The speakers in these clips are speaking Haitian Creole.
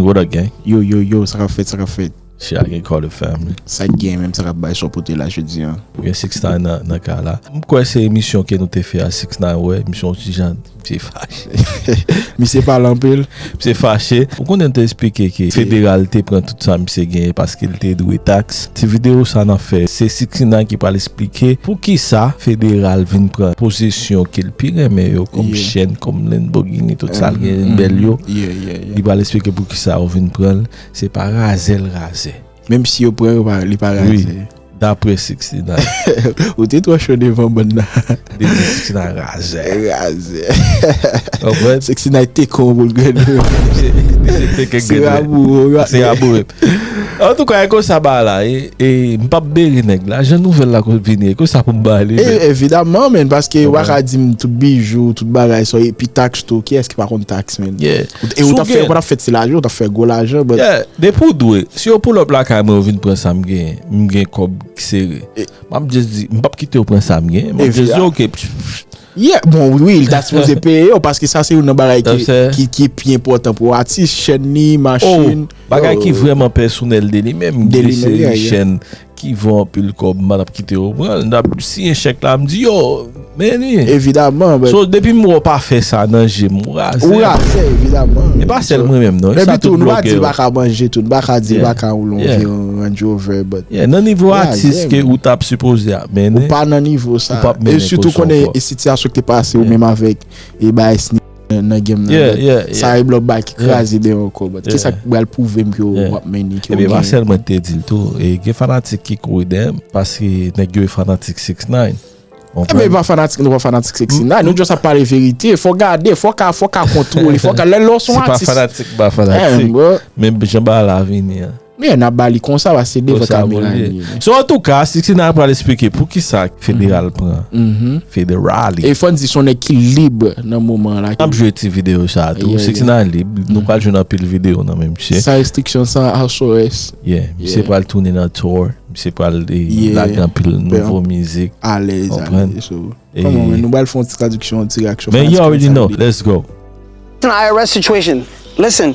What up gang? Yo yo yo sa kap fèt sa kap fèt. Shit a gen kò le family. Sak gen menm sa kap bay so pote la jodi an. Ou gen 6 ix9 nan nan kay la. M kwè se emisyon ke nou te fè a 6 ix9 wè misye on ti jan misye fache. Misye pale anpil. Misye fache. Ou konnen m te esplike ke federal te pran tout sa misye genyen paske li te dwe tax. Ti video sa nan fè se 6 ix9 ki pral esplike poukisa federal vin pran posesyon ke l pi renmen yo kom chèn kom Lamborghini tout sa l genyen bèl yo. Li pral esplike pou kisa yo vin pran l, se pa razè l razè. Menm si yo pran yo pa li pa razè. Wi, daprè 69. Ou te twò cho devan bann nan. Li di 69 razè. Razè. Konprann? 69 te kon pou l grenn ou. Li se te ke grenn ou. Se rabou yo. Antouka e konsa bagay la ye. E m pap bere nèg la. Jan nouvèl la konn vini e konsa pou m ba li. Evidaman men paske ou pa ka di m tout bijou, tout bagay sa yo epi tax Tou kiyès ki pa konn tax menn. Yeah. E ou tap fè ou patap fè ti lajan ou tap fè gwo lajan but. Yeah depi ou dwe si yo pull up lakay mwen yo vin pran sam genyen m gen kòb k sere map just di m pap kitew pran sam genyen map just di ok pfff. Yeah bon wi li ta sipoze peye yo paske sa se youn nan bagay ki pi enpòtan pou atis chèn li, machin. Oh bagay ki vrèman pèsonèl de li menm gen yon seri chèn Ki vo anpil kob mpa tap kite yo pranl mtap siyen chèk la mdi yo meni evidaman but so depim wè w pa fè sa nan jem ou razè ou razè evidaman e pa sèl mwen menm non e sa tout blogè yo paka manje tou paka di paka woule yon vye range rover but yeah nan nivo atis ke ou tap sipoze ap mennen ou pa nan nivo sa e sitou konnen e sitiyasyon ki te pase ou menm avèk e bay. nan game nan yeah yeah yeah sa e blòp ba ki kraze deyò ankò but kisa ki bal pouvem ke ou wap mennen ke ou gen epi Marcel mwen te dil tou e gen fanatik ki kouri deyè m paske nèg yo e fanatik 6ix9ine Epi e pa fanatik nou pa fanatik 6ix9ine nou just ap pale verite fò gade fò ka fò ka kontwole fò ka lè lè w son atis se pa fanatik m pa fanatik men jan bagay la vini an. Meyè n ap ba li konsa paske se devan kamera li ye. So antouka, Siksina pral esplike poukisa Federal pran Federally. E fò n di s on nèg ki lib nan moman an la. N ap jwe ti videyo sa a tou. Siksina lib, nou pral jwenn anpil videyo nan men misye. San restriksyon, san house arrest. Yeah, misye pral tounen nan tour, misye pral lage anpil nouvo mizik. Alèz, alèz. Nou pral fè yon ti tradiksyon, yon ti reaksyon. Men you already know, let's go. It's an IRS situation, listen.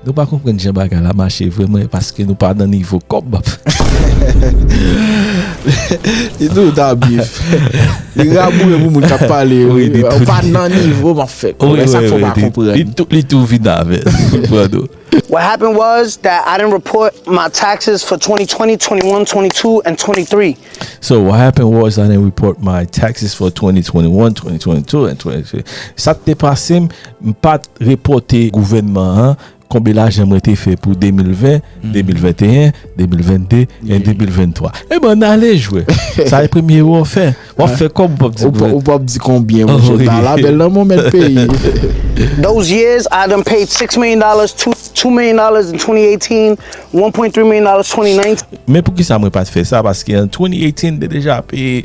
Nou pa konprann jan bagay la mache vre mwen paske nou pa nan nivo kòb. E nou ta byen fè. Li raboure pou moun kap pale yo. Ou pa nan nivo map fè kòb. E sak fè w pa konprann. Li tou vin avè l. Ou pran nou. What happened was that I didn't report my taxes for 2020, 2021, 2022 and 2023. So what happened was I didn't report my taxes for 2020, 2021, 2022 and 2023. Sak te pase m. M pat repòte gouvènman an konbe lajan mwen te fè pou 2020, 2021, 2022 en 2023. Eban n ale jwè. Sa e premye erè w ap fè. W ap fè kòb ou p ap di gouvènman. Ou p ap di konbyen monchè. Ba la bèl lanmou mèt peyi. Those years I done paid six million dollars, two million dollars in 2018, one point three million dollars 2019. Men poukisa mwen pat fè sa paske an 2018 m te deja peye.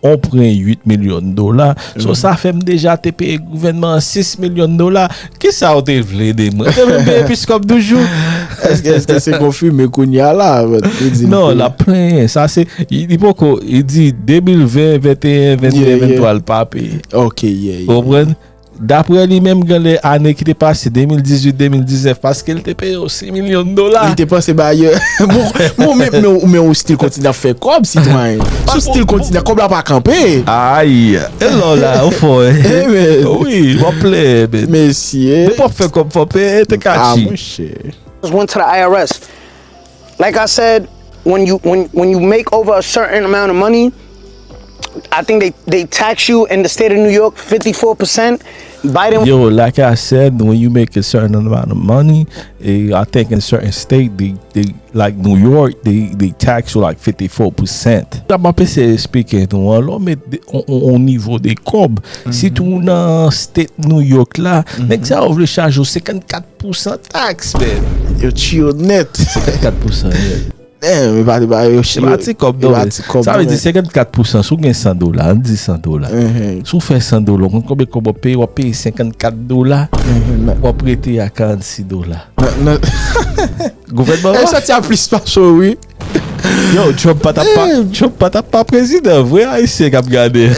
On pren 8 milyon dola. So sa fè m deja te peye gouvènman an 6 milyon dola. Kisa w te vle de mwen? Te vle m peye episkòp toujou? Èske se konfime kounye a la? Non, l ap plenyen. Sa se, li poko, li di 2020, 2021, 2022, 2023 l pa peye. Ok, ye, ye. Ou konprann? Daprè li menm gen lè ane ki te pase 2018, 2019 paske li te peye yo 6 milyon dola. Li te panse bayè. Bon men ou stil kontinye ap fè kòb sitwayen. Sou stil kontinye kòb la pa kanpe. Ayy elon la ou fò wi wap plen. Mesye. Depi wap fè kòb fò peye te katchi. A mouche. Mwen se la IRS. Like I said when you when when you make over a certain amount of money I think they they tax you in the state of New York 54 percent Biden Yo, like I said, when you make a certain amount of money, eh, I think in certain state, they, they, like New York, they, they tax you like 54%. Sa m ap eseye esplike nou an, lò met de- on, on, on nivo de kòb, sitou nan state New York la, nèg sa yo vle chaje ou 54 Pousan tax man yo chiyo net. 54 pousan ye. Damn epa li ba yo chiyo. Epa ti kob non men. Sa vle di 54 pousan si w gen 100 dola an di 100 dola. Si w fè 100 dola w konn konbyen kob wap peye wap peye 54 dola wap rete a 46 dola. Gouvènman an. Yo sòti a plis pase w wi. Yow Trump pa tap pa Trump pa tap pa prezidan vre ayisyen kap gade.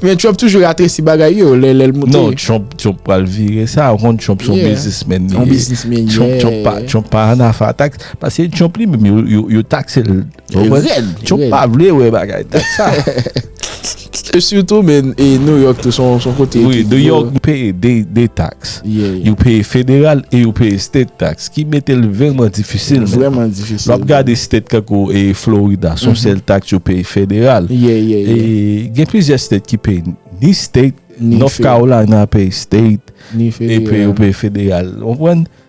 Men Trump toujou ratresi bagay yo lè lèl moute. Non Trump Trump pral vire sa ou konn Trump son bizismen li ye. Yon bizismen ye. Trump pa Trump pa an afa tax pase Trump li menm yo yo taxel. Trump pa vle wè bagay tax sa. E sitou men New York tou son son kote ki gwo. Wi, New York peye 2 tax. Yo peye federal e yo peye state tax ki mete l vreman difisil. Vreman difisil. Lè w ap gade state tankou Florida son sèl tax yo peye federal. E gen plizyè state ki peye ni state, North Carolina peye state epi yo peye federal. Ou konprann?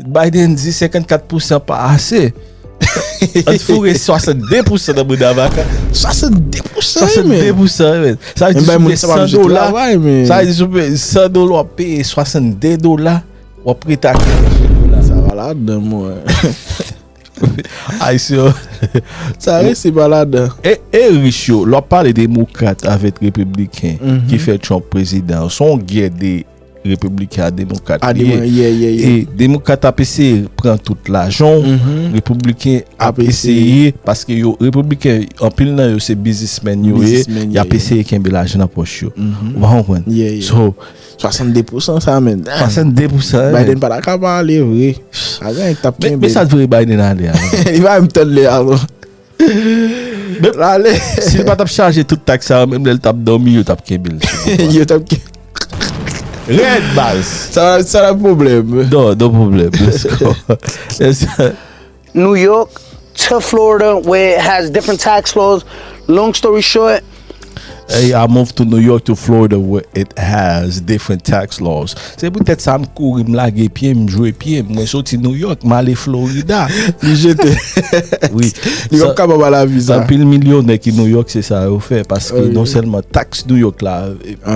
Biden di 54 pousan pa ase. An t foure 62 pousan nan mouda vaka. 62 pousan wi men. 62 pousan wi men. Sa vle di sou peye 100 dola. Sa vle di sou peye 100 dola wap peye 62 dola. Wap rete ak 62 dola. Sa va la dan mwen. Ayisyen. Sa vle se va la dan. E rich yo. Lwa pale demokrat avet republiken. Ki fe trump prezidan. Son gye de. Republican a demokrat A liye. deman, yeah, yeah, yeah. E demokrat ap eseye pran tout lajan w, Republican ap Ap eseye. eseye paske yo Republican anpil nan yo se bizismen yo ye, Businessmen, y ap yeah, eseye kenbe lajan nan pòch yo. Ou pa konprann? Yeah, yeah. So, 62% sa men. Damn. 62% eh. Biden pa ta ka pa ale vre. A gen yon ki tap Men, kenbe. men sa t vre Biden ale a? Li pa menm tann lè a non. Menm lale. Si li pa tap chaje tout tak sa yo menm lèl tap domi yo tap kenbe l sou boutwa. Yo tap kenbe. Red baz. Sa la pwoblèm. No no pwoblèm let's go let's go. New York to Florida where it has different tax laws long story short. Hey, I moved to New York to Florida where it has different tax laws. Se pou tèt sa m kouri m lage pye m jwe pye m. Mwen soti New York m ale Florida. Li jete. Oui. Li wap kaba ba la vi sa. Anpil milyonè ki New York se sa yo fè. Paske non selman tax New York la.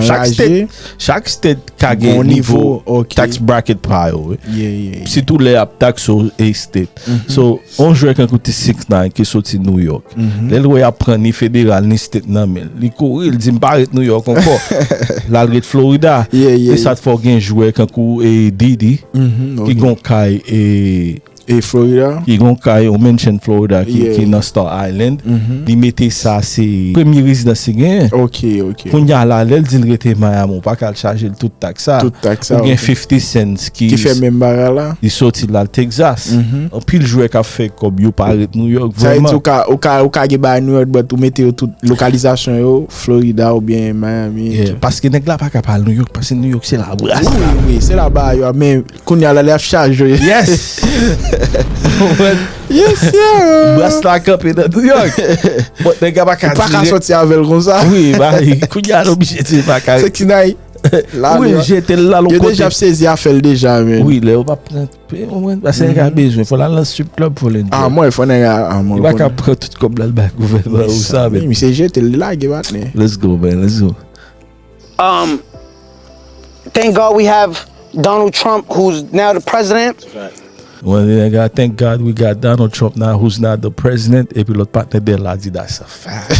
Chak state, chak state ka gen nivo tax bracket pa yo. Sitou lè ap tax ou a state. So. On jwè kankou Ti Six Nine ki soti Nouyòk, lè l wè y ap pran ni federal ni state nan men l, li kouri, li di m pa ret Nouyòk ankò, l al ret Florida. Se sa k fè w gen jwè kankou Didi ki gen yon kay yon mansion Florida ki nan Star Island, li mete sa se premye rezidans li genyen. Kounya la lèl dil rete Miami ou paka al chajel tout tax sa. Tout tax sa ok. Ou gen 50 cents ki. Ki fè menm bagay la. Li soti lal Texas. Anpil jwè kap fè kòb yo pa ret New York vrèman. Sa vle di ou ka ou ka gen bagay New York but ou mete yo tout lokalizasyon yo Florida ou byen Miami. Yeah paske nèg la paka pa al New York paske New York se la bras la. Wi wi se la ba yo a men. Kounya la li ap chaje. Yes! Yes sir! Bras la kanpe nan triyang. Bon, nèg la pa ka dire. Ou pa ka soti avè l konsa. Wi, ba li. Kounya l oblije di l pa ka. Se kinay. Wi, l jete l la l on kote. Yo deja ap sezi afè l deja men. Wi, lè yo pa pran. Pe ou mwen, basè nèg la bezwen. Fò l al nan strip club pou l enjoy. A mwen, fò nèg la. A mwen. Li pa ka pran tout kòb la l bay gouvènman. Ou sa men. Misye jete l, li lage batne. Let's go man, let's go. Um thank God we have Donald Trump who's now the president. Mwen di nèg la thank God we got Donald Trump now who's not the president epi lòt patnè de l la di that's a fact.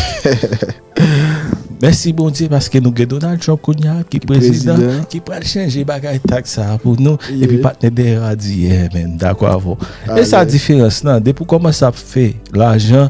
Mèsi Bondye paske nou gen Donald Trump kounye a ki prezidan ki pral chanje bagay tax sa a pou nou epi patnè dèyè a di yeah man m dakò avè w. E sa diferans lan depi w kòmanse ap fè lajan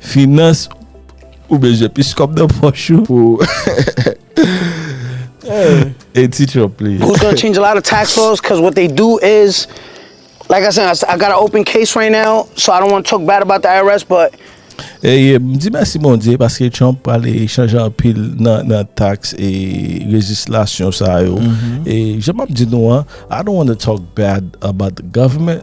Finans ou bezwen plis kòb nan pòch ou pou anti trump li. Who's gonna change a lot of tax laws cuz what they do is like I said I got a open case right now so I don't wanna talk bad about the IRS but. Ey m di mèsi Bondye paske Trump prale chanje anpil nan tax e lejislasyon sa yo e jan map di nou an I don't wanna talk bad about the government.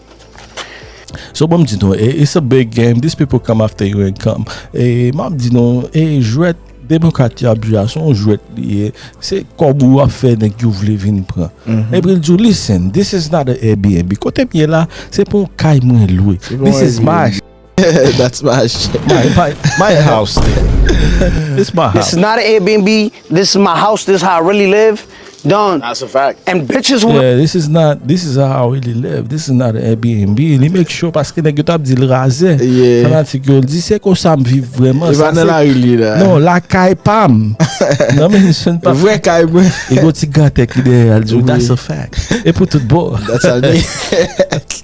So banm di nou e it's a big game this people come after you and come e map di nou e jwèt demokrat yo ap jwe a son jwèt li ye se kòb ou ap fè nèg yo vle vin pran mm-hmm. epi l di ou listen this is not a Airbnb kote m ye la se pou kay mwen lwe this is my That's my shit. My house nigga. This my house. This is not a Airbnb. This is my house. This is how I really live. Don. That's a fact. And bitches who. Yeah, this is not, this is how I really live. This is not a Airbnb. Li make sure paske nèg yo tap di l razè. Yeah. Fanatik yo l di se kon sa m viv vreman. Li pa nan la rue li la. Non, la kay pa m. Non men se n pa. Vrè kay mwen. E go ti gantè ki dèyè l di w that's a fact. E pou tout bon. That's how I live.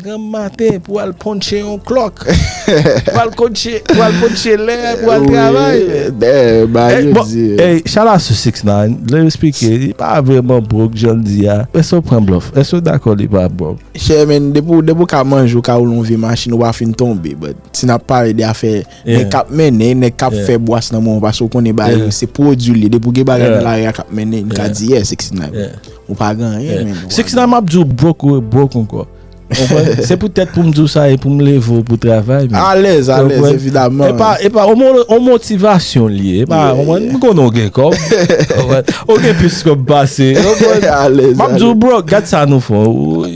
Granm maten pou al ponche yon clock. Pou al konche pou al ponche lè pou al travay. Damn a yo di. Ey shout out to 6ix9ine lèl esplike li pa vrèman broke janl di a èske ou pran blòf èske ou dakò li pa broke. Chè men depi ou ka manje ou ka woule yon vye machin ou pa fin tonbe but si nap pale de afè Nèg kap mennen, nèg kap fè bwas nan moman paske ou konnen bagay yo se pwodui l ye. Depi ou gen bagay nan lari a kap mennen, m ka di yeah 69 men ou pa gen anyen menn. 69 map di w broh ou e broh ankò. Ou konprann? Se poutèt pou m di w sa e pou m leve w pou travay menn. Alèz, alèz evidaman. E pa, e pa yon motivasyon li ye. E pa, ou konprann? M konnen w gen kòb. Ou konprann? Ou gen plis kòb pase. Ou konprann? Alèz, alèz. Map di w broh, gad sa nou fè w.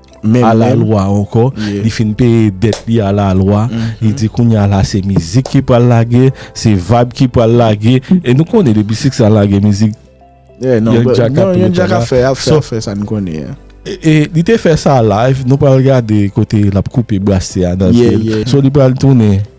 A la lwa ankò, li fin peye dèt li a la lwa, li di kounye a la se mizik ki pral lage, se vayb ki pral lage, e nou konnen depi siksè an lage mizik, yon djak ap pran djak la. Yon djak ap fè sa nou konnen an. E li te fè sa live, nou pral gade kote l ap koupe brase a nan pye l. So li pral tounen.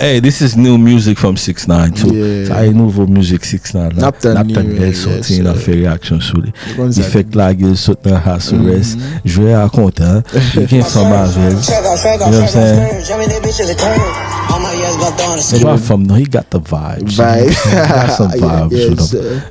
Hey this is new music from 6ix9ine too Sa e nouvo mizik 6ix9ine la Nap tann lè l soti e n ap fè reyaksyon sou li Li fèk lage l sot nan house arrest Jwè a kontan Li gen fanm avè l You know what I'm saying Se pa fanm non he got the vibes He got some vibes with him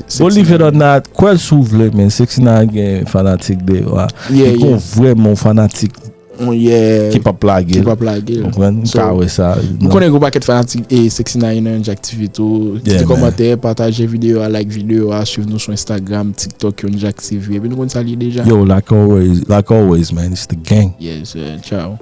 Bon li fèt otna kwèl si w vle men sexy nana gen fanatik deyò a li gen yon vrè men yon fanatik ki pap lage l ou konprann m ka wè sa m konnen gen yon pakèt fanatik sexy nana ki nan yon jak tifi tou kite kòmantè pataje videyo a like videyo a swiv nou sou instagram tiktok yon jak tifi epi nou konn sa l ye deja yo like always like always man it's the gang yes sir ciao.